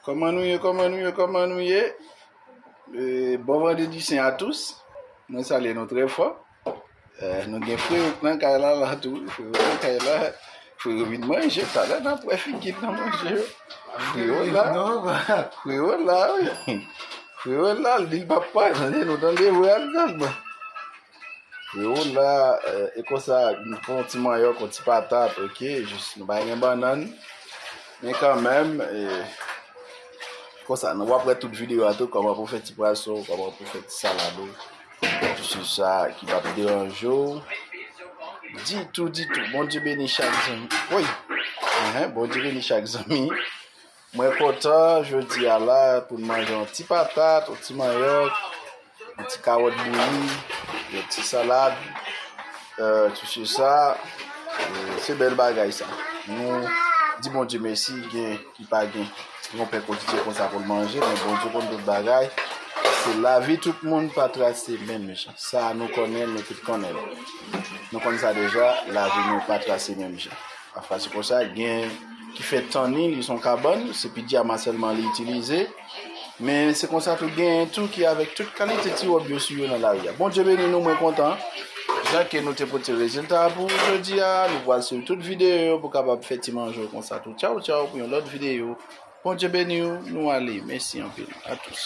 Kòman nou ye, kòman nou ye, kòman nou ye? E, bon vendredi sen a tous. Mwen salye nou trè fò. E, nou gen fre ou nan kay la la tou. Fre ou nan kay la. Fre ou vin manje. Talè nan pou e figi nan manje. Fre ou la. Fre ou la. Fre ou la. Li pa pa. Tande nou tande vwe al nan. Freo la e konsa nou pran yon ti manyòk yon ti patat ok jis nou pa gen bannann men kanmèm e konsa nou wap wè tout videyo a tou kòman pou fè ti pwason ou kòman pou fè ti salad ou tout se sa ki pap deranje w ditou ditou Bondye beni chak zanmi woy Bondye beni chak zanmi Mwen kontan jodi a la pou n manje yon ti patat, yon ti manyòk, yon ti kawòt bouyi, yon ti salad, ti se sa, se bèl bagay sa. Nou di Bondye mèsi gen ki pa gen. Yon pè kotidye konsa pou l manje, men Bondye konn tout bagay. Se lavi tout moun pa trase menm jan. Sa nou konnen, nou tout konnen. Nou konn sa deja, lavi nou pa trase menm jan. Pafwa se konsa, gen ki fè tannin li son kabann, se pidyama sèlman li itilize. Men se konsa tou gen tou ki avèk tout kalite ti wòb yo sou yo nan lari a. Bondye beni nou, mwen kontan. Jan ke nou te pote rezilta pou ou jodi a, nou pral swiv tout videyo yo pou kapab fè ti manje w konsa tou. Tchaw tchaw pou yon lòt videyo. Bondye beni w, nou ale. Mèsi anpil. A tous.